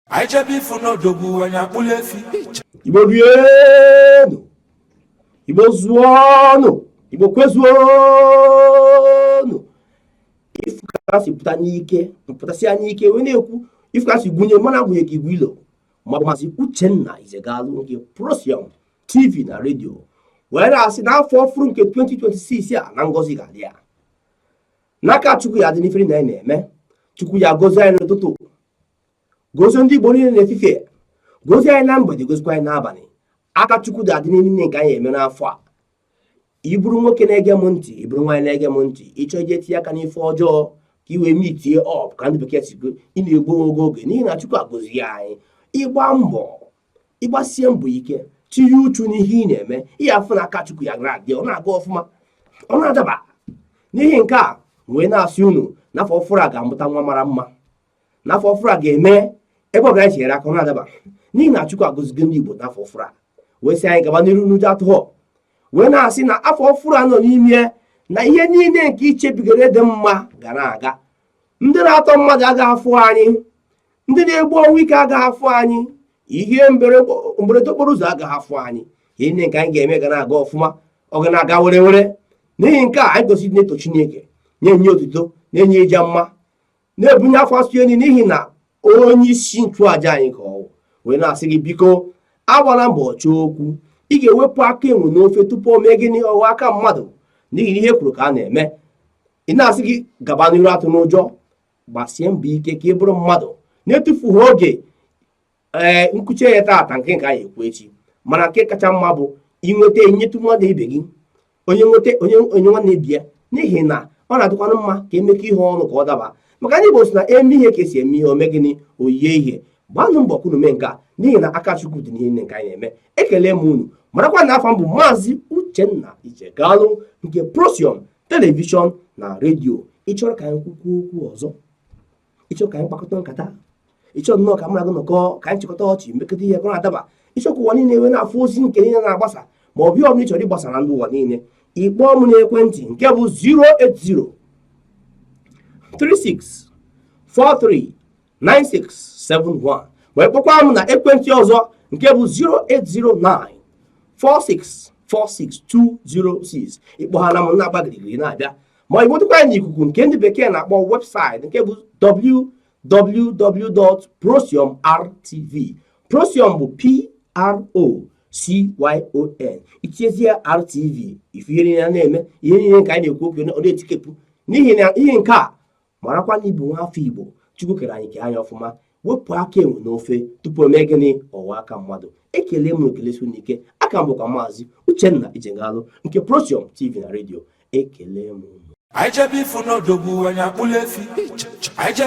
anyị chebe ifu n'odogwu anyị akpụla efi igbo rienụ igbo zụọnụ igbo kwezuonụ ifu ka ha si pụta n'ike mpụtasị anya ike wee na-ekwu ifu ka ha si gụnye mana agụnye ka igwe ilo maọbụ maazị uchenna ijegalụ nke procyon tv na redio wee na-asị na afọ ọfụrụ nke 2026 a na ngọzi ga-adị ya na aka chukwu ya dị n'ife niile anyị na-eme chukwu ya gozie anyị n'ụtụtụ gozie ndị Igbo niile n'efifie gozie anyị na mgbede gozikwa anyị n'abalị aka Chukwu ga-adị n'ihe niile nke anyị eme n'afọ a ị bụrụ nwoke na-ege m ntị ị bụrụ nwaanyị na-ege m ntị ị chọọ ije tinye aka n'ife ọjọọ ka i wee meetie up ka ndị bekee si kwuo ị na-egbu oge oge n'ihi na Chukwu agọzie anyị ị gbaa mbọ ị gbasie mbọ ike tinye uchu n'ihe ị na-eme ị ga-afụ na aka Chukwu ya ga-adị ọ na-aga ọfụma ọ na-adaba n'ihi nke a wee na-asị unu na afọ ọfụrụ a ga-amụta nwa mara mma n'afọ ọfụrụ a ga-eme ebe ọ gaghị ere aka ọ na-adaba n'ihi na Chukwu agọzigo ndị Igbo n'afọ ọfụrụ a wee sị anyị gaba n'iru na ụjọ atụghọ wee na-asị na afọ ọfụrụ a nọ n'ime na ihe niile nke ichebigara dị mma ga na-aga ndị na-atọ mmadụ agaghị afụ anyị ndị na-egbu ọnwụ ike agaghị afụ anyị ihe mberede okporo ụzọ agaghị afụ anyị ihe niile nke anyị ga-eme ga na-aga ọfụma ọ ga na-aga were were n'ihi nke a anyị gosiri na-eto Chineke na-enye otuto na-enye ịja mma na-ebunye afa nsọ ya enu n'ihi na onye isi nchụaja anyị ka ọ wụ wee na-asị gị biko agbala mbọ chọọ okwu ị ga-ewepụ aka enwe n'ofe tupu o mee gịnị ọ ghọọ aka mmadụ n'ihi ihe e kwuru ka a na-eme ị na-asị gị gaba n'iru atụna ụjọ gbasie mbọ ike ka ị bụrụ mmadụ na-etufughị oge ee nkuchi ya taata nke nke anyị ekwu echi mana nke kacha mma bụ i nweta i nyetụ mmadụ ibe gị onye nweta o nye nwanne ibe ya n'ihi na ọ na-adịkwanụ mma ka e mekọọ ihe ọnụ ka ọ daba maka ndị Igbo sị na e mee ihe ka e si eme ihe o mee gịnị o yie ihe gbanụ mbọ ka unu mee nke a n'ihi na aka Chukwu dị n'ihe nke anyị na-eme ekele m unu marakwa na afa m bụ maazị Uchenna Ijegalụ nke Procyon telivishọn na redio ị chọrọ ka anyị kwukwuo okwu ọzọ ị chọọ ka anyị kpakọta nkata ị chọọ nnọọ ka mmadụ nọkọ ka anyị chịkọta ọchị mekọta ihe gụrụ adaba ị chọọ ka ụwa niile wee na-afụ ozi nke niile na-agbasa ma ọ bụ ọbụla ị chọrọ ịgbasa na ndị ụwa niile ị kpọọ m n'ekwentị nke bụ 080 36 43 9671 ma ị kpọkwaa m na ekwentị ọzọ nke bụ 0809 46 46206 ị kpọọ ha na m na-agba girigiri na-abịa ma ị nwetakwa anyị n'ikuku nke ndị bekee na-akpọ website nke bụ www.procyonrtv procyon bụ p r o CYON i tinyezie RTV ị fụ ihe niile anyị na-eme ihe niile nke anyị na-ekwu okwu ọ na-etikepụ n'ihi na ihe nke a marakwa na ị bụ nwaafọ Igbo Chukwu kere anyị kee anyị ọfụma wepụ aka enwe n'ofe tupu o mee gịnị ọ ghọọ aka mmadụ ekele m unu kelesie unu ike aka m bụkwa maazị Uchenna Ijegalụ nke Protium TV na redio ekele m unu